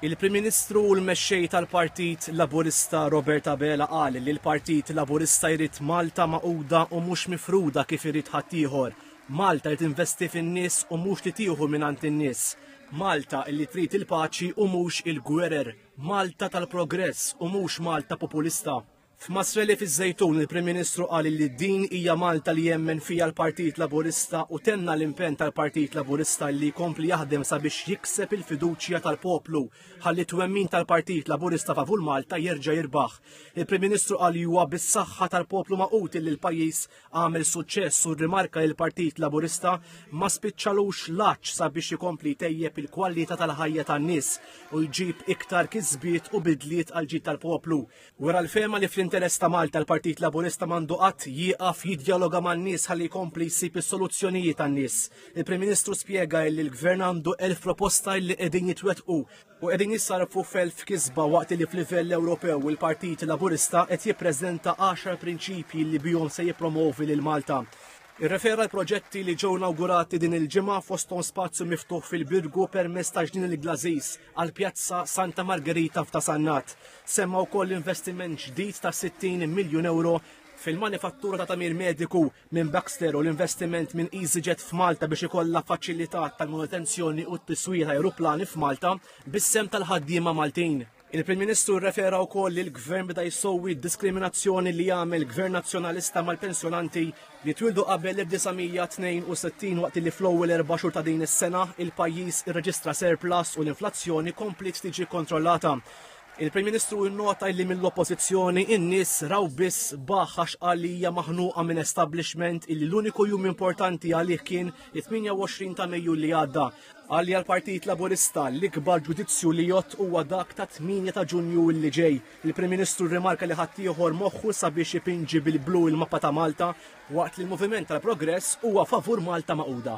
Il-Prim Ministru u l-Mexxej tal-Partit Laburista Robert Abela qal li l-Partit Laburista jrid Malta magħquda u mhux mifruda kif irid ħaddieħor. Malta li tinvesti fin-nies u mhux li tieħu mingħand in-nies. Malta li trid il-paċi u mhux il-gwerer. Malta tal-progress u mhux Malta populista. F'Masreli fiż-Żejtun il-Prim Ministru qal li din hija Malta li jemmen fiha l-Partit Laburista u tenna l-impenn tal-Partit Laburista li jkompli jaħdem sabiex jikseb il-fiduċja tal-poplu ħalli t-twemmin tal-Partit Laburista favur Malta jerġa' jirbaħ. Il-Prim Ministru qal li huwa bis-saħħa tal-poplu Magħqud li l-pajjiż għamel suċċess u rrimarka li l-Partit Laburista ma spiċċalux l-għatx sabiex ikompli jtejjeb il-kwalità tal-ħajja tan-nies u jġib iktar kisbiet u bidliet għall-ġid tal-poplu. Wera l-fehma li fl-interess ta' Malta l-Partit Laburista m'għandu qatt jieqaf jiddjaloga man-nies ħalli jkompli jsib is-soluzzjonijiet għan-nies. Il-Prim Ministru spjega illi l-Gvern għandu elf proposta illi qegħdin jitwettqu u qegħdin jissarrfu f'elf kisba waqt li f'livell Ewropew il-Partit Laburista qed jippreżenta għaxar prinċipji li bihom se jippromovi lil Malta. Irrefera l-proġetti li ġew nawgurati din il-ġimgħa fosthom spazju miftuħ fil-Birgu permezz ta' ġnien il-Glażiż, għal Pjazza Santa Margherita f'Ta' Sannat. Semma wkoll investiment ġdid ta' 60 miljun euro fil-manifattura ta' tamir mediku minn Baxter u l-investiment minn EasyJet f'Malta biex ikollha faċilità tal-manutenzjoni u t-tiswija ta' aeroplani f'Malta bis-sem tal-ħaddiema Maltin. Il-Prim Ministru rrefera wkoll li l-Gvern beda jsowwi d-diskriminazzjoni li jagħmel Gvern Nazzjonalista mal-pensjonanti li twildu qabel l-1962 waqt li fl-ewwel erba' xhur ta' din is-sena il-pajjiż irreġistra surplus u l-inflazzjoni kompliet tiġi kontrollata. Il-Prim Ministru nnota illi mill-Oppożizzjoni in-nies raw biss baħħ għax qal li hija maħnuqa minn establishment illi l-uniku jum importanti għalih kien it-28 ta' Mejju li għadda. Qal li għall-Partit Laburista l-ikbar ġudizzju li jgħodd huwa dak tat-8 ta' Ġunju illi ġej. Il-Prim Ministru rrimarka li ħaddieħor moħħu sabiex ipinġi bil-blu il-mappa ta' Malta waqt li l-Moviment tal-Progress huwa favur Malta magħquda.